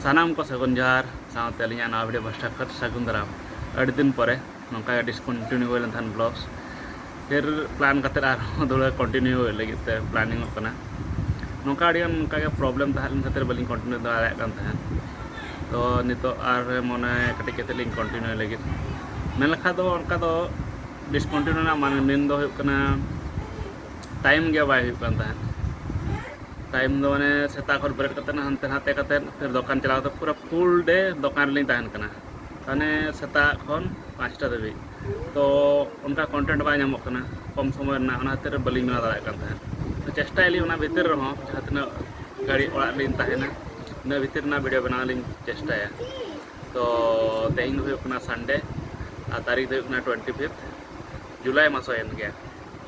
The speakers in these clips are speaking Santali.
ᱥᱟᱱᱟᱢ ᱠᱚ ᱥᱟᱹᱜᱩᱱ ᱡᱚᱦᱟᱨ ᱥᱟᱶᱛᱮ ᱟᱹᱞᱤᱧᱟᱜ ᱱᱟᱣᱟ ᱵᱷᱤᱰᱤᱭᱳ ᱯᱟᱥᱴᱟ ᱠᱷᱚᱱ ᱥᱟᱹᱜᱩᱱ ᱫᱟᱨᱟᱢ ᱟᱹᱰᱤ ᱫᱤᱱ ᱯᱚᱨᱮ ᱱᱚᱝᱠᱟ ᱜᱮ ᱰᱤᱥᱠᱚᱱᱴᱤᱱᱤᱭᱩ ᱦᱩᱭ ᱞᱮᱱ ᱛᱟᱦᱮᱱ ᱵᱞᱚᱜᱥ ᱯᱷᱤᱨ ᱯᱞᱟᱱ ᱠᱟᱛᱮᱫ ᱟᱨᱦᱚᱸ ᱫᱚᱲᱦᱟ ᱠᱚᱱᱴᱤᱱᱤᱭᱩ ᱦᱩᱭᱩᱜ ᱞᱟᱹᱜᱤᱫ ᱛᱮ ᱯᱞᱟᱱᱤᱝ ᱚᱜ ᱠᱟᱱᱟ ᱱᱚᱝᱠᱟ ᱟᱹᱰᱤ ᱜᱟᱱ ᱱᱚᱝᱠᱟ ᱜᱮ ᱯᱨᱚᱵᱞᱮᱢ ᱛᱟᱦᱮᱸ ᱞᱮᱱ ᱠᱷᱟᱹᱛᱤᱨ ᱵᱟᱹᱞᱤᱧ ᱠᱚᱱᱴᱤᱱᱤᱭᱩ ᱫᱟᱲᱮᱭᱟᱜ ᱠᱟᱱ ᱛᱟᱦᱮᱸᱫ ᱛᱚ ᱱᱤᱛᱚᱜ ᱟᱨ ᱢᱚᱱᱮ ᱠᱟᱹᱴᱤᱡ ᱠᱟᱛᱮᱫ ᱞᱤᱧ ᱠᱚᱱᱴᱤᱱᱤᱭᱩ ᱞᱟᱹᱜᱤᱫ ᱢᱮᱱ ᱞᱮᱠᱷᱟᱱ ᱫᱚ ᱚᱱᱠᱟ ᱫᱚ ᱰᱤᱥᱠᱚᱱᱴᱤᱱᱤᱭᱩ ᱨᱮᱱᱟᱜ ᱢᱮᱱ ᱫᱚ ᱦᱩᱭᱩᱜ ᱠᱟᱱᱟ ᱴᱟᱭᱤᱢ ᱜᱮ ᱵᱟᱭ ᱦᱩᱭᱩᱜ ᱠᱟᱱ ᱛᱟᱦᱮᱸᱫ ᱴᱟᱭᱤᱢ ᱫᱚ ᱢᱟᱱᱮ ᱥᱮᱛᱟᱜ ᱠᱷᱚᱱ ᱵᱮᱨᱮᱫ ᱠᱟᱛᱮᱫ ᱦᱟᱱᱛᱮ ᱱᱟᱛᱮ ᱠᱟᱛᱮᱫ ᱯᱷᱤᱨ ᱫᱚᱠᱟᱱ ᱪᱟᱞᱟᱣ ᱠᱟᱛᱮᱫ ᱯᱩᱨᱟᱹ ᱯᱷᱩᱞ ᱰᱮ ᱫᱚᱠᱟᱱ ᱨᱮᱞᱤᱧ ᱛᱟᱦᱮᱱ ᱠᱟᱱᱟ ᱢᱟᱱᱮ ᱥᱮᱛᱟᱜ ᱠᱷᱚᱱ ᱯᱟᱸᱪᱴᱟ ᱫᱷᱟᱹᱵᱤᱡ ᱛᱚ ᱚᱱᱠᱟ ᱠᱚᱱᱴᱮᱱᱴ ᱵᱟᱭ ᱧᱟᱢᱚᱜ ᱠᱟᱱᱟ ᱠᱚᱢ ᱥᱚᱢᱚᱭ ᱨᱮᱱᱟᱜ ᱚᱱᱟ ᱠᱷᱟᱹᱛᱤᱨ ᱵᱟᱹᱞᱤᱧ ᱵᱮᱱᱟᱣ ᱫᱟᱲᱮᱭᱟᱜ ᱠᱟᱱ ᱛᱟᱦᱮᱸᱫ ᱛᱚ ᱪᱮᱥᱴᱟᱭᱟᱞᱤᱧ ᱚᱱᱟ ᱵᱷᱤᱛᱤᱨ ᱨᱮᱦᱚᱸ ᱡᱟᱦᱟᱸ ᱛᱤᱱᱟᱹᱜ ᱜᱷᱟᱹᱲᱤᱡ ᱚᱲᱟᱜ ᱨᱮᱞᱤᱧ ᱛᱟᱦᱮᱱᱟ ᱤᱱᱟᱹ ᱵᱷᱤᱛᱤᱨ ᱨᱮᱱᱟᱜ ᱵᱷᱤᱰᱤᱭᱳ ᱵᱮᱱᱟᱣ ᱞᱤᱧ ᱪᱮᱥᱴᱟᱭᱟ ᱛᱚ ᱛᱮᱦᱮᱧ ᱫᱚ ᱦᱩᱭᱩᱜ ᱠᱟᱱᱟ ᱥᱟᱱᱰᱮ ᱟᱨ ᱛᱟᱹᱨᱤᱠᱷ ᱫᱚ ᱦᱩᱭᱩᱜ ᱠᱟᱱᱟ ᱴᱩᱭᱮᱱᱴᱤ ᱯᱷᱤᱯᱛᱷ ᱡᱩᱞᱟᱭ ᱢᱟᱥ ᱦᱩᱭᱮᱱ ᱜᱮᱭᱟ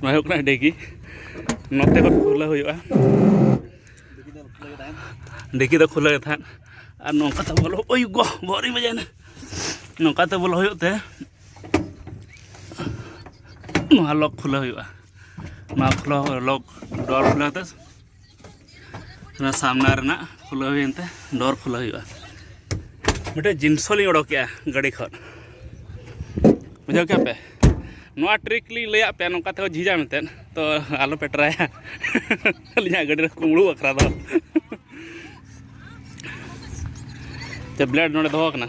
ᱱᱚᱣᱟ ᱦᱩᱭᱩᱜ ᱠᱟᱱᱟ ᱰᱮᱜᱤ ᱱᱚᱛᱮ ᱠᱷᱚᱱ ᱠᱷᱩᱞᱟᱹᱣ ᱦᱩᱭᱩᱜᱼᱟ ᱰᱮᱜᱤ ᱫᱚ ᱠᱷᱩᱞᱟᱹᱣ ᱜᱮ ᱛᱟᱦᱮᱸᱫ ᱟᱨ ᱱᱚᱝᱠᱟ ᱛᱮ ᱵᱚᱞᱚ ᱳᱭ ᱜᱚ ᱵᱚᱦᱚᱜ ᱨᱤᱧ ᱵᱟᱡᱟᱭᱮᱱᱟ ᱱᱚᱝᱠᱟ ᱛᱮ ᱵᱚᱞᱚ ᱦᱩᱭᱩᱜ ᱛᱮ ᱱᱚᱣᱟ ᱞᱚᱠ ᱠᱷᱩᱞᱟᱹᱣ ᱦᱩᱭᱩᱜᱼᱟ ᱱᱚᱣᱟ ᱠᱷᱩᱞᱟᱹᱣ ᱞᱚᱠ ᱰᱚᱨ ᱠᱷᱩᱞᱟᱹᱣ ᱛᱮ ᱚᱱᱟ ᱥᱟᱢᱱᱟ ᱨᱮᱱᱟᱜ ᱠᱷᱩᱞᱟᱹᱣ ᱦᱩᱭᱮᱱ ᱛᱮ ᱰᱳᱨ ᱠᱷᱩᱞᱟᱹᱣ ᱦᱩᱭᱩᱜᱼᱟ ᱢᱤᱫᱴᱮᱡ ᱡᱤᱱᱥᱚ ᱞᱤᱧ ᱚᱰᱚᱠᱮᱜᱼᱟ ᱜᱟᱹᱰᱤ ᱠᱷᱚᱱ ᱵᱩᱡᱷᱟᱹᱣ ᱠᱮᱜᱼᱟ ᱯᱮ ᱱᱚᱣᱟ ᱴᱨᱤᱠ ᱞᱤᱧ ᱞᱟᱹᱭᱟᱫ ᱯᱮᱭᱟ ᱱᱚᱝᱠᱟ ᱛᱮᱦᱚᱸ ᱡᱷᱤᱡᱟ ᱢᱮᱱᱛᱮ ᱛᱚ ᱟᱞᱚ ᱯᱮ ᱴᱨᱟᱭᱟ ᱟᱹᱞᱤᱧᱟᱜ ᱜᱟᱹᱰᱤ ᱨᱮ ᱠᱩᱢᱲᱩ ᱵᱟᱠᱷᱨᱟ ᱫᱚ ᱛᱮ ᱵᱞᱮᱰ ᱱᱚᱰᱮ ᱫᱚᱦᱚ ᱠᱟᱱᱟ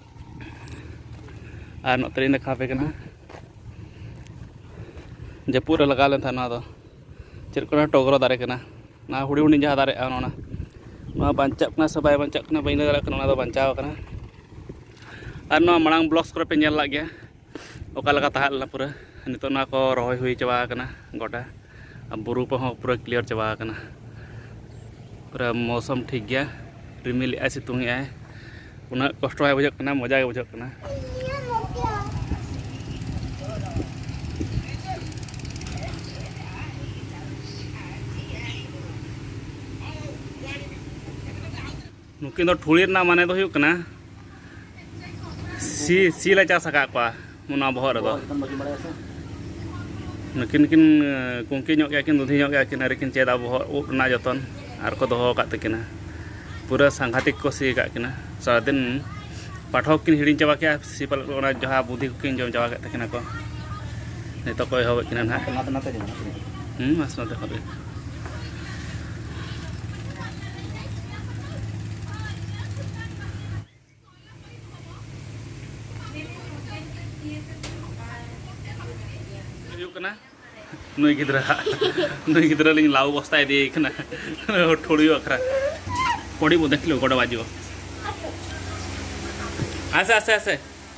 ᱟᱨ ᱱᱚᱛᱮ ᱨᱤᱧ ᱫᱮᱠᱷᱟᱣ ᱟᱯᱮ ᱠᱟᱱᱟ ᱡᱟᱹᱯᱩᱫ ᱨᱮ ᱞᱟᱜᱟᱣ ᱞᱮᱱ ᱛᱟᱦᱮᱸᱫ ᱱᱚᱣᱟ ᱫᱚ ᱪᱮᱫ ᱠᱚ ᱞᱟᱹᱭᱟ ᱴᱚᱜᱽᱨᱚ ᱫᱟᱨᱮ ᱠᱟᱱᱟ ᱱᱚᱣᱟ ᱦᱩᱰᱤᱧ ᱦᱩᱰᱤᱧ ᱡᱟᱦᱟᱸ ᱫᱟᱨᱮᱜᱼᱟ ᱚᱱᱟ ᱱᱚᱣᱟ ᱵᱟᱧᱪᱟᱜ ᱠᱟᱱᱟ ᱥᱮ ᱵᱟᱭ ᱵᱟᱧᱪᱟᱜ ᱠᱟᱱᱟ ᱵᱟᱹᱧ ᱞᱟᱹᱭ ᱫᱟᱲᱮᱭᱟᱜ ᱠᱟᱱᱟ ᱚᱱᱟ ᱫᱚ ᱵᱟᱧᱪᱟᱣ ᱠᱟᱱᱟ ᱟᱨ ᱱᱚᱣᱟ ᱢᱟᱲᱟᱝ ᱵᱞᱚᱜᱽ ᱠᱚᱨᱮ ᱯᱮ ᱧᱮᱞ ᱞᱮᱫ ᱜᱮᱭᱟ ᱚᱠᱟ ᱞᱮᱠᱟ ᱛᱟᱦᱮᱸ ᱞᱮᱱᱟ ᱯᱩᱨᱟᱹ ᱱᱤᱛᱚᱜ ᱱᱚᱣᱟ ᱠᱚ ᱨᱚᱦᱚᱭ ᱦᱩᱭ ᱪᱟᱵᱟ ᱟᱠᱟᱱᱟ ᱜᱚᱴᱟ ᱟᱨ ᱵᱩᱨᱩ ᱠᱚᱦᱚᱸ ᱯᱩᱨᱟᱹ ᱠᱞᱤᱭᱟᱨ ᱪᱟᱵᱟ ᱟᱠᱟᱱᱟ ᱯᱩᱨᱟᱹ ᱢᱚᱣᱥᱚᱢ ᱴᱷᱤᱠ ᱜᱮᱭᱟ ᱨᱤᱢᱤᱞ ᱮᱜᱼᱟᱭ ᱥᱤᱛᱩᱝ ᱮᱜᱼᱟᱭ ᱩᱱᱟᱹᱜ ᱠᱚᱥᱴᱚ ᱵᱟᱭ ᱵᱩᱡᱷᱟᱹᱜ ᱠᱟᱱᱟ ᱢᱚᱡᱟ ᱜᱮ ᱵᱩᱡᱷᱟᱹᱜ ᱠᱟᱱᱟ ᱱᱩᱠᱤᱱ ᱫᱚ ᱴᱷᱩᱲᱤ ᱨᱮᱱᱟᱜ ᱢᱟᱱᱮ ᱫᱚ ᱦᱩᱭᱩᱜ ᱠᱟᱱᱟ ᱥᱤ ᱥᱤ ᱞᱮ ᱪᱟᱥ ᱟᱠᱟᱫ ᱠᱚᱣᱟ ᱚᱱᱟ ᱵᱚᱦᱚᱜ ᱨᱮᱫᱚ ᱱᱩᱠᱤᱱ ᱠᱤᱱ ᱠᱩᱝᱠᱤ ᱧᱚᱜ ᱜᱮᱭᱟ ᱠᱤᱱ ᱫᱩᱫᱷᱤ ᱧᱚᱜ ᱜᱮᱭᱟ ᱠᱤᱱ ᱟᱹᱣᱨᱤ ᱠᱤᱱ ᱪᱮᱫᱟ ᱵᱚᱦᱚᱜ ᱩᱵ ᱨᱮᱱᱟᱜ ᱡᱚᱛᱚᱱ ᱟᱨ ᱠᱚ ᱫᱚᱦᱚ ᱟᱠᱟᱫ ᱛᱟᱹᱠᱤᱱᱟ ᱯᱩᱨᱟᱹ ᱥᱟᱝᱜᱷᱟᱛᱤᱠ ᱠᱚ ᱥᱤ ᱟᱠᱟᱫ ᱠᱤᱱᱟ ᱥᱟᱨᱟᱫᱤᱱ ᱯᱟᱴᱷᱚᱠ ᱠᱤᱱ ᱦᱤᱲᱤᱧ ᱪᱟᱵᱟ ᱠᱮᱜᱼᱟ ᱥᱤ ᱯᱟᱞᱮᱫ ᱚᱱᱟ ᱡᱟᱦᱟᱸ ᱵᱩᱫᱷᱤ ᱠᱚᱠᱤᱱ ᱡᱚᱢ ᱪᱟᱵᱟ ᱠᱮᱫ ᱛᱟᱹᱠᱤᱱᱟ ᱠᱚ ᱱᱤᱛᱚᱜ ᱠᱚ ᱮᱦᱚᱵᱮᱫ ᱠᱤᱱᱟ ᱱᱟᱦᱟᱜ ᱦᱮᱸ ᱢᱟᱥ ᱱᱚᱛᱮ ᱠᱷᱚᱱ ᱜᱮ ᱱᱩᱭ ᱜᱤᱫᱽᱨᱟᱹ ᱱᱩᱭ ᱜᱤᱫᱽᱨᱟᱹ ᱞᱤᱧ ᱞᱟᱣ ᱵᱚᱥᱛᱟ ᱤᱫᱤᱭᱮ ᱠᱟᱱᱟ ᱴᱷᱩᱲᱤᱭᱩ ᱟᱠᱷᱨᱟ ᱯᱚᱸᱰᱤ ᱵᱚ ᱫᱮᱠᱷᱞᱤ ᱜᱚᱰᱟ ᱵᱟᱡᱩ ᱟᱥᱮ ᱟᱥᱮ ᱟᱥᱮ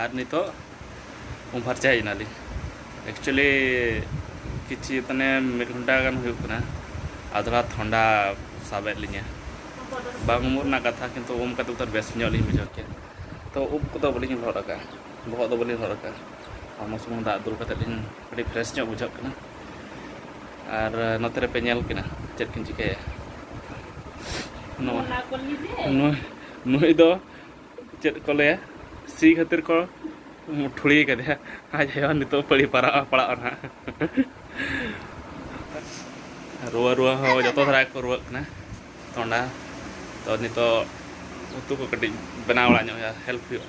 ᱟᱨ ᱱᱤᱛᱚᱜ ᱩᱢ ᱯᱷᱟᱨᱪᱟ ᱦᱮᱡ ᱮᱱᱟᱞᱤᱧ ᱮᱠᱪᱩᱭᱮᱞᱤ ᱠᱤᱪᱷᱩ ᱢᱟᱱᱮ ᱢᱤᱫ ᱜᱷᱚᱱᱴᱟ ᱜᱟᱱ ᱦᱩᱭᱩᱜ ᱠᱟᱱᱟ ᱟᱫᱷᱨᱟ ᱛᱷᱚᱱᱰᱟ ᱥᱟᱵᱮᱫ ᱞᱤᱧᱟᱹ ᱵᱟᱝ ᱩᱢᱩᱜ ᱨᱮᱱᱟᱜ ᱠᱟᱛᱷᱟ ᱠᱤᱱᱛᱩ ᱩᱢ ᱠᱟᱛᱮ ᱛᱚ ᱵᱮᱥ ᱧᱚᱜ ᱞᱤᱧ ᱵᱩᱡᱷᱟᱹᱣ ᱠᱮᱫ ᱛᱚ ᱩᱵ ᱠᱚᱫᱚ ᱵᱟᱹᱞᱤᱧ ᱞᱚᱦᱚᱫ ᱟᱠᱟᱫᱼᱟ ᱵᱚᱦᱚᱜ ᱫᱚ ᱵᱟᱹᱞᱤᱧ ᱞᱚᱦᱚᱫ ᱟᱠᱟᱫᱼᱟ ᱦᱚᱲᱢᱚ ᱥᱩᱢᱩᱝ ᱫᱟᱜ ᱫᱩᱞ ᱠᱟᱛᱮ ᱞᱤᱧ ᱟᱹᱰᱤ ᱯᱷᱨᱮᱥ ᱧᱚᱜ ᱵᱩᱡᱷᱟᱹᱜ ᱠᱟᱱᱟ ᱟᱨ ᱱᱚᱛᱮ ᱨᱮᱯᱮ ᱧᱮᱞ ᱠᱤᱱᱟ ᱪᱮᱫ ᱠᱤᱱ ᱪᱤᱠᱟᱹᱭᱟ ᱱᱚᱣᱟ ᱱᱩᱭ ᱫᱚ ᱪᱮᱫ ᱠᱚ ᱞᱟᱹᱭᱟ ᱥᱤ ᱠᱷᱟᱹᱛᱤᱨ ᱠᱚ ᱴᱷᱩᱲᱤ ᱠᱟᱫᱮᱭᱟ ᱟᱡ ᱟᱭᱳ ᱱᱤᱛᱚᱜ ᱯᱟᱹᱲᱤ ᱯᱟᱨᱟᱜᱼᱟ ᱯᱟᱲᱟᱜᱼᱟ ᱱᱟᱦᱟᱜ ᱨᱩᱣᱟᱹ ᱨᱩᱣᱟᱹ ᱦᱚᱸ ᱡᱚᱛᱚ ᱫᱷᱟᱨᱟ ᱜᱮᱠᱚ ᱨᱩᱣᱟᱹᱜ ᱠᱟᱱᱟ ᱛᱚᱸᱰᱟ ᱛᱚ ᱱᱤᱛᱚᱜ ᱩᱛᱩ ᱠᱚ ᱠᱟᱹᱴᱤᱡ ᱵᱮᱱᱟᱣ ᱵᱟᱲᱟ ᱧᱚᱜ ᱦᱩᱭᱩᱜᱼᱟ ᱦᱮᱞᱯ ᱦᱩᱭᱩᱜᱼᱟ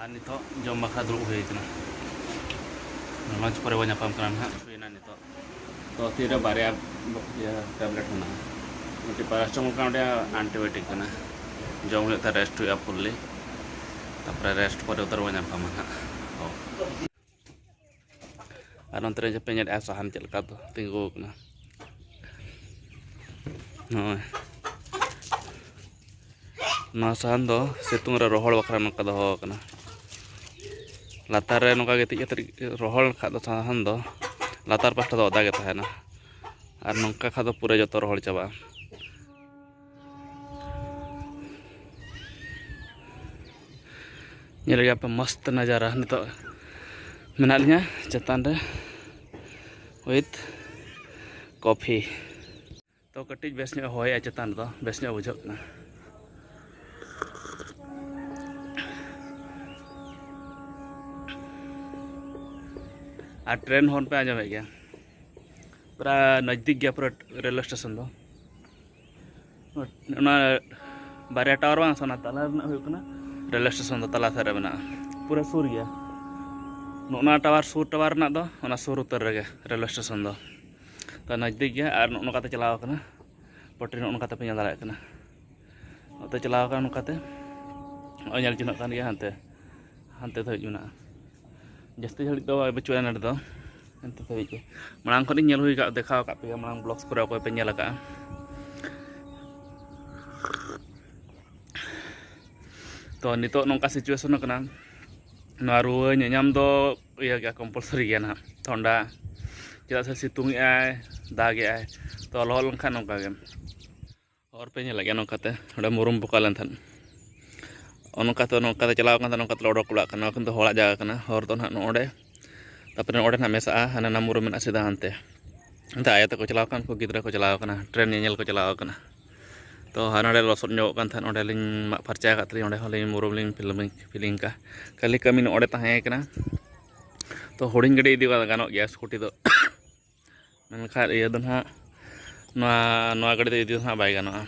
ᱟᱨ ᱱᱤᱛᱚᱜ ᱡᱚᱢ ᱵᱟᱠᱷᱨᱟ ᱫᱩᱲᱩᱵ ᱦᱩᱭ ᱟᱠᱟᱱᱟ ᱞᱚᱧᱪ ᱯᱚᱨᱮ ᱵᱚᱱ ᱧᱟᱯᱟᱢ ᱠᱟᱱᱟ ᱱᱟᱦᱟᱜ ᱦᱩᱭᱱᱟ ᱱᱤᱛᱚᱜ ᱛᱚ ᱛᱤᱨᱮ ᱵᱟᱨᱭᱟ ᱴᱮᱵᱞᱮᱴ ᱢᱮᱱᱟᱜᱼᱟ ᱢᱤᱫᱴᱤᱡ ᱯᱟᱨᱟᱥᱴᱟᱢᱚᱞ ᱠᱟᱱᱟ ᱢᱤᱫᱴᱤᱡ ᱟᱱᱴᱤᱵᱟᱭᱳᱴᱤᱠ ᱠᱟᱱᱟ ᱡᱚᱢ ᱦᱩᱭᱩᱜ ᱛᱮ ᱨᱮᱥᱴ ᱦᱩᱭᱩᱜᱼᱟ ᱯᱷᱩᱞᱞᱤ ᱛᱟᱨᱯᱚᱨᱮ ᱨᱮᱥᱴ ᱯᱚᱨᱮ ᱩᱛᱟᱹᱨ ᱵᱚᱱ ᱧᱟᱯᱟᱢᱟ ᱱᱟᱦᱟᱜ ᱟᱨ ᱚᱱᱛᱮ ᱨᱮ ᱡᱟᱯᱮ ᱧᱮᱞᱮᱫᱼᱟ ᱥᱟᱦᱟᱱ ᱪᱮᱫ ᱞᱮᱠᱟ ᱛᱤᱸᱜᱩ ᱟᱠᱟᱱᱟ ᱱᱚᱜᱼᱚᱭ ᱱᱚᱣᱟ ᱥᱟᱦᱟᱱ ᱫᱚ ᱥᱤᱛᱩᱝ ᱨᱮ ᱨᱚᱦᱚᱲ ᱵᱟᱠᱷᱨᱟ ᱱᱚᱝᱠᱟ ᱫᱚᱦᱚ ᱟᱠᱟᱱᱟ ᱞᱟᱛᱟᱨ ᱨᱮ ᱱᱚᱝᱠᱟ ᱜᱤᱛᱤᱡ ᱠᱟᱛᱮ ᱨᱚᱦᱚᱲ ᱞᱮᱠᱷᱟᱡ ᱫᱚ ᱥᱟᱦᱟᱱ ᱫᱚ ᱞᱟᱛᱟᱨ ᱯᱟᱥᱴᱟ ᱫᱚ ᱚᱫᱟ ᱜᱮ ᱛᱟᱦᱮᱱᱟ ᱟᱨ ᱱᱚᱝᱠᱟ ᱠᱷᱟᱡ ᱫᱚ ᱯᱩᱨᱟᱹ ᱡᱚᱛᱚ ᱨᱚᱦᱚᱲ ᱪᱟᱵᱟᱜᱼᱟ ᱧᱮᱞ ᱜᱮᱭᱟ ᱯᱮ ᱢᱚᱥᱛ ᱱᱟᱡᱟᱨᱟ ᱱᱤᱛᱚᱜ ᱢᱮᱱᱟᱜ ᱞᱤᱧᱟ ᱪᱮᱛᱟᱱ ᱨᱮ ᱩᱭᱤᱛᱷ ᱠᱚᱯᱷᱤ ᱛᱚ ᱠᱟᱹᱴᱤᱡ ᱵᱮᱥ ᱧᱚᱜ ᱦᱚᱭᱮᱜᱼᱟ ᱪᱮᱛᱟᱱ ᱨᱮᱫᱚ ᱵᱮᱥ ᱧᱚᱜ ᱵᱩᱡᱷᱟᱹᱜ ᱠᱟᱱᱟ ᱟᱨ ᱴᱨᱮᱱ ᱦᱚᱨᱱ ᱯᱮ ᱟᱸᱡᱚᱢᱮᱫ ᱜᱮᱭᱟ ᱯᱩᱨᱟ ᱱᱚᱡᱽᱫᱤᱠ ᱜᱮᱭᱟ ᱯᱩᱨᱟ ᱨᱮᱞᱣᱮ ᱥᱴᱮᱥᱚᱱ ᱫᱚ ᱚᱱᱟ ᱵᱟᱨᱭᱟ ᱴᱟᱣᱟᱨ ᱵᱟᱝ ᱚᱱᱟ ᱛᱟᱞᱟ ᱨᱮᱱᱟᱜ ᱦᱩᱭᱩᱜ ᱠᱟᱱᱟ ᱨᱮᱞ ᱥᱴᱮᱥᱚᱱ ᱫᱚ ᱛᱟᱞᱟ ᱥᱮᱫ ᱨᱮ ᱢᱮᱱᱟᱜᱼᱟ ᱯᱩᱨᱟᱹ ᱥᱩᱨ ᱜᱮᱭᱟ ᱱᱚᱜᱼᱱᱟ ᱴᱟᱣᱟᱨ ᱥᱩᱨ ᱴᱟᱣᱟᱨ ᱨᱮᱱᱟᱜ ᱫᱚ ᱚᱱᱟ ᱥᱩᱨ ᱩᱛᱟᱹᱨ ᱨᱮᱜᱮ ᱨᱮᱞ ᱥᱴᱮᱥᱚᱱ ᱫᱚ ᱛᱚ ᱱᱚᱡᱽᱫᱤᱠ ᱜᱮᱭᱟ ᱟᱨ ᱱᱚᱜᱼᱚ ᱱᱚᱝᱠᱟᱛᱮ ᱪᱟᱞᱟᱣ ᱟᱠᱟᱱᱟ ᱯᱚᱴᱨᱤ ᱱᱚᱜᱼᱚ ᱱᱚᱝᱠᱟᱛᱮ ᱯᱮ ᱧᱮᱞ ᱫᱟᱲᱮᱭᱟᱜ ᱠᱟᱱᱟ ᱱᱚᱛᱮ ᱪᱟᱞᱟᱣ ᱟᱠᱟᱱᱟ ᱱᱚᱝᱠᱟᱛᱮ ᱱᱚᱜᱼᱚᱭ ᱧᱮᱞ ᱪᱤᱱᱦᱟᱹᱜ ᱠᱟᱱ ᱜᱮᱭᱟ ᱦᱟᱱᱛᱮ ᱦᱟᱱᱛᱮ ᱫᱷᱟᱹᱵᱤᱡ ᱢᱮᱱᱟᱜᱼᱟ ᱡᱟᱹᱥᱛᱤ ᱜᱷᱟᱹᱲᱤᱡ ᱫᱚ ᱵᱟᱹᱪᱩᱜᱼᱟ ᱱᱚᱰᱮ ᱫᱚ ᱦᱟᱱᱛᱮ ᱫᱷᱟᱹᱵᱤᱡ ᱜᱮ ᱢᱟᱲᱟᱝ ᱠᱷᱚᱱᱤᱧ ᱧᱮᱞ ᱦᱩᱭ ᱟᱠᱟᱫ ᱫᱮᱠᱷᱟᱣ ᱟᱠᱟᱫ ᱯᱮᱭᱟ ᱢᱟᱲᱟᱝ ᱵᱞᱚᱜᱥ ᱠᱚᱨᱮ ᱚᱠᱚᱭ ᱯᱮ ᱧᱮᱞ ᱟᱠᱟᱫᱼᱟ ᱛᱚ ᱱᱤᱛᱚᱜ ᱱᱚᱝᱠᱟ ᱥᱤᱪᱩᱭᱮᱥᱚᱱ ᱠᱟᱱᱟ ᱱᱚᱣᱟ ᱨᱩᱣᱟᱹ ᱧᱟᱧᱟᱢ ᱫᱚ ᱤᱭᱟᱹ ᱜᱮᱭᱟ ᱠᱚᱢᱯᱟᱞᱥᱟᱨᱤ ᱜᱮᱭᱟ ᱱᱟᱦᱟᱜ ᱴᱷᱚᱱᱰᱟ ᱪᱮᱫᱟᱜ ᱥᱮ ᱥᱤᱛᱩᱝ ᱮᱜᱼᱟᱭ ᱫᱟᱜᱮᱜᱼᱟᱭ ᱛᱚ ᱞᱚᱦᱚᱫ ᱞᱮᱱᱠᱷᱟᱱ ᱱᱚᱝᱠᱟ ᱜᱮ ᱦᱚᱨ ᱯᱮ ᱧᱮᱞᱮᱫ ᱜᱮᱭᱟ ᱱᱚᱝᱠᱟᱛᱮ ᱚᱸᱰᱮ ᱢᱩᱨᱩᱢ ᱵᱚᱠᱟ ᱞᱮᱱ ᱛᱟᱦᱮᱸᱫ ᱚᱱᱠᱟᱛᱮ ᱱᱚᱝᱠᱟᱛᱮ ᱪᱟᱞᱟᱣ ᱠᱟᱱ ᱛᱟᱦᱮᱸᱫ ᱱᱚᱝᱠᱟᱛᱮ ᱚᱰᱚᱠ ᱚᱲᱟᱜ ᱠᱟᱱᱟ ᱠᱤᱱᱛᱩ ᱦᱚᱲᱟᱜ ᱡᱟᱭᱜᱟ ᱠᱟᱱᱟ ᱦᱚᱨ ᱫᱚ ᱱᱟᱦᱟᱜ ᱱᱚᱸᱰᱮ ᱛᱟᱨᱯᱚᱨᱮ ᱚᱸᱰᱮ ᱱᱟᱦᱟᱜ ᱢᱮᱥᱟᱜᱼᱟ ᱦᱟᱱᱮ ᱱᱟ ᱢᱩᱨᱩᱢ ᱢᱮᱱᱟᱜᱼᱟ ᱥᱤᱫᱷᱟ ᱦᱟᱱᱛᱮ ᱚᱱᱛᱮ ᱟᱭᱳ ᱛᱟᱠᱚ ᱪᱟᱞᱟᱣ ᱠᱟᱱ ᱩᱱᱠᱩ ᱜᱤᱫᱽᱨᱟᱹ ᱠᱚ ᱪᱟᱞᱟᱣ ᱠᱟᱱᱟ ᱴᱨᱮᱱ ᱧᱮᱧᱮᱞ ᱠᱚ ᱪᱟᱞᱟᱣ ᱠᱟᱱᱟ ᱛᱚ ᱦᱟᱱᱟ ᱱᱚᱸᱰᱮ ᱞᱚᱥᱚᱫ ᱧᱚᱜᱚᱜ ᱠᱟᱱ ᱛᱟᱦᱮᱸᱫ ᱚᱸᱰᱮᱞᱤᱧ ᱢᱟᱜ ᱯᱷᱟᱨᱪᱟ ᱟᱠᱟᱫ ᱛᱟᱹᱞᱤᱧ ᱚᱸᱰᱮ ᱦᱚᱸᱞᱤᱧ ᱢᱩᱨᱩᱢ ᱞᱤᱧ ᱯᱷᱤᱞᱢᱤᱝ ᱯᱷᱤᱞᱤᱝ ᱠᱟᱜᱼᱟ ᱠᱷᱟᱹᱞᱤ ᱠᱟᱹᱢᱤ ᱱᱚᱸᱰᱮ ᱛᱟᱦᱮᱸ ᱠᱟᱱᱟ ᱛᱚ ᱦᱩᱰᱤᱧ ᱜᱟᱹᱰᱤ ᱤᱫᱤ ᱵᱟᱝ ᱜᱟᱱᱚᱜ ᱜᱮᱭᱟ ᱥᱠᱩᱴᱤ ᱫᱚ ᱢᱮᱱᱠᱷᱟᱱ ᱤᱭᱟᱹ ᱫᱚ ᱱᱟᱦᱟᱜ ᱱᱚᱣᱟ ᱱᱚᱣᱟ ᱜᱟᱹᱰᱤ ᱫᱚ ᱤᱫᱤ ᱫᱚ ᱱᱟᱦᱟᱜ ᱵᱟᱭ ᱜᱟᱱᱚᱜᱼᱟ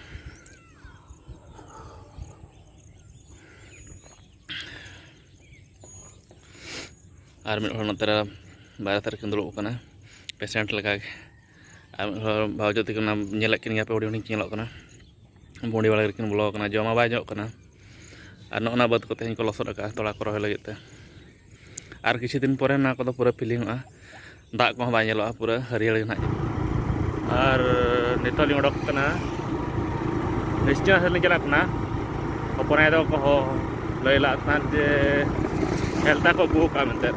ᱟᱨ ᱢᱤᱫ ᱦᱚᱲ ᱱᱚᱛᱮ ᱨᱮ ᱵᱟᱨᱦᱮ ᱫᱷᱟᱨᱮ ᱠᱤᱱ ᱫᱩᱲᱩᱵ ᱠᱟᱱᱟ ᱯᱮᱥᱮᱱᱴ ᱞᱮᱠᱟᱜᱮ ᱟᱨ ᱢᱤᱫ ᱦᱚᱲ ᱵᱷᱟᱣᱡᱚ ᱛᱟᱹᱠᱤᱱ ᱚᱱᱟ ᱧᱮᱞᱮᱫ ᱠᱤᱱ ᱜᱮᱭᱟ ᱯᱮ ᱦᱩᱰᱤᱧ ᱦᱩᱰᱤᱧ ᱠᱤᱱ ᱧᱮᱞᱚᱜ ᱠᱟᱱᱟ ᱵᱩᱸᱰᱤ ᱵᱟᱲᱟ ᱨᱮᱠᱤᱱ ᱵᱚᱞᱚ ᱟᱠᱟᱱᱟ ᱡᱚᱢ ᱦᱚᱸ ᱵᱟᱭ ᱧᱚᱜ ᱠᱟᱱᱟ ᱟᱨ ᱱᱚᱜᱼᱚ ᱱᱟ ᱵᱟᱹᱫᱽ ᱠᱚ ᱛᱮᱦᱮᱧ ᱠᱚ ᱞᱚᱥᱚᱫ ᱟᱠᱟᱫᱼᱟ ᱛᱚᱞᱟ ᱠᱚ ᱨᱚᱦᱚᱭ ᱞᱟᱹᱜᱤᱫ ᱛᱮ ᱟᱨ ᱠᱤᱪᱷᱩ ᱫᱤᱱ ᱯᱚᱨᱮ ᱱᱚᱣᱟ ᱠᱚᱫᱚ ᱯᱩᱨᱟᱹ ᱯᱷᱤᱞᱤᱝᱚᱜᱼᱟ ᱫᱟᱜ ᱠᱚᱦᱚᱸ ᱵᱟᱭ ᱧᱮᱞᱚᱜᱼᱟ ᱯᱩᱨᱟᱹ ᱦᱟᱹᱨᱭᱟᱹᱲ ᱜᱮ ᱱᱟᱦᱟᱜ ᱟᱨ ᱱᱤᱛᱚᱜ ᱞᱤᱧ ᱚᱰᱚᱠ ᱠᱟᱱᱟ ᱱᱤᱥᱪᱚᱭ ᱥᱮᱫ ᱞᱤᱧ ᱪᱟᱞᱟᱜ ᱠᱟᱱᱟ ᱦᱚᱯᱚᱱᱟᱭ ᱫᱚ ᱠᱚ ᱞᱟᱹᱭ ᱞᱟᱜ ᱛᱟᱦᱮᱸᱫ ᱡᱮ ᱦᱮᱞᱛᱟ ᱠᱚ ᱟᱹᱜᱩ ᱠᱟᱜᱼᱟ ᱢᱮᱱᱛᱮ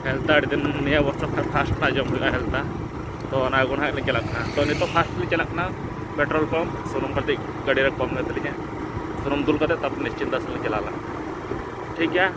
ᱦᱮᱞᱛᱟ ᱟᱹᱰᱤ ᱫᱤᱱ ᱱᱤᱭᱟᱹ ᱵᱚᱪᱷᱚᱨ ᱠᱷᱟᱱ ᱯᱷᱟᱥᱴ ᱱᱟᱜ ᱡᱚᱢ ᱦᱩᱭᱩᱜᱼᱟ ᱦᱮᱞᱛᱟ ᱛᱚ ᱚᱱᱟ ᱟᱹᱜᱩ ᱱᱟᱦᱟᱜ ᱞᱤᱧ ᱪᱟᱞᱟᱜ ᱠᱟᱱᱟ ᱛᱚ ᱱᱤᱛᱚᱜ ᱯᱷᱟᱥᱴ ᱞᱤᱧ ᱪᱟᱞᱟᱜ ᱠᱟᱱᱟ ᱯᱮᱴᱨᱳᱞ ᱯᱟᱢᱯ ᱥᱩᱱᱩᱢ ᱠᱟᱹᱴᱤᱡ ᱜᱟᱹᱰᱤ ᱨᱮ ᱠᱚᱢ ᱮᱱ ᱛᱟᱹᱞᱤᱧᱟ ᱥᱩᱱᱩᱢ ᱫᱩᱞ ᱠᱟᱛᱮᱫ ᱛᱟᱨᱯᱚᱨ ᱱᱤᱥᱪᱤᱱᱛᱟ ᱥᱮᱫ ᱞᱤᱧ ᱪᱟᱞᱟᱣ ᱞᱮᱱᱟ ᱴᱷᱤᱠ ᱜᱮᱭᱟ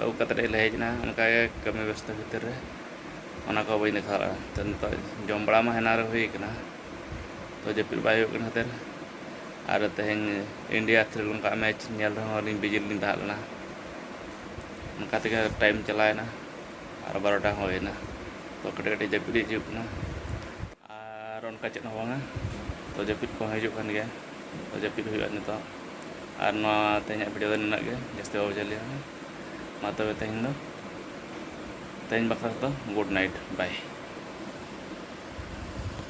ᱟᱹᱜᱩ ᱠᱟᱛᱮᱫ ᱞᱮ ᱦᱮᱡ ᱮᱱᱟ ᱚᱱᱠᱟ ᱜᱮ ᱠᱟᱹᱢᱤ ᱵᱮᱥᱛᱚ ᱵᱷᱤᱛᱤᱨ ᱨᱮ ᱚᱱᱟ ᱠᱚ ᱵᱟᱹᱧ ᱫᱮᱠᱷᱟᱣ ᱫᱟᱲᱮᱭᱟᱜᱼᱟ ᱛᱚ ᱱᱤᱛᱚᱜ ᱡᱚᱢ ᱵᱟᱲᱟ ᱢᱟ ᱦᱮᱱᱟᱝ ᱨᱮ ᱦᱩᱭ ᱠᱟᱱᱟ ᱛᱚ ᱡᱟᱹᱯᱤᱫ ᱵᱟᱭ ᱦᱩᱭᱩᱜ ᱠᱟᱱ ᱠᱷᱟᱹᱛᱤᱨ ᱟᱨ ᱛᱮᱦᱮᱧ ᱤᱱᱰᱤᱭᱟ ᱥᱨᱤᱞᱚᱝᱠᱟ ᱟᱜ ᱢᱮᱪ ᱧᱮᱞ ᱨᱮᱦᱚᱸ ᱟᱹᱞᱤᱧ ᱵᱤᱡᱤ ᱨᱮᱞᱤᱧ ᱛᱟᱦᱮᱸ ᱞᱮᱱᱟ ᱚᱱᱠᱟ ᱛᱮᱜᱮ ᱴᱟᱭᱤᱢ ᱪᱟᱞᱟᱣᱮᱱᱟ ᱟᱨ ᱵᱟᱨᱚᱴᱟ ᱦᱚᱸ ᱦᱩᱭᱮᱱᱟ ᱛᱚ ᱠᱟᱹᱴᱤᱡ ᱠᱟᱹᱴᱤᱡ ᱡᱟᱹᱯᱤᱫ ᱦᱤᱡᱩᱜ ᱠᱟᱱᱟ ᱟᱨ ᱚᱱᱠᱟ ᱪᱮᱫ ᱦᱚᱸ ᱵᱟᱝᱟ ᱛᱚ ᱡᱟᱹᱯᱤᱫ ᱠᱚᱦᱚᱸ ᱦᱤᱡᱩᱜ ᱠᱟᱱ ᱜᱮᱭᱟ ᱛᱚ ᱡᱟᱹᱯᱤᱫ ᱦᱩᱭᱩᱜᱼᱟ ᱱᱤᱛᱚᱜ ᱟᱨ ᱱᱚᱣᱟ ᱛᱮᱦᱮᱧᱟᱜ ᱵᱷᱤᱰᱤᱭᱳ ᱫᱚ ᱱᱤᱱᱟᱹᱜ ᱜᱮ ᱡᱟᱹᱥᱛᱤ ᱵᱟᱵᱚ ᱡᱷᱟᱹᱞᱤᱭᱟ ᱢᱟ ᱛᱚᱵᱮ ᱛᱮᱦᱮᱧ ᱫᱚ ᱛᱮᱦᱮᱧ ᱵᱟᱠᱷᱨᱟ ᱫᱚ ᱜᱩᱰ ᱱᱟᱭᱤᱴ ᱵᱟᱭ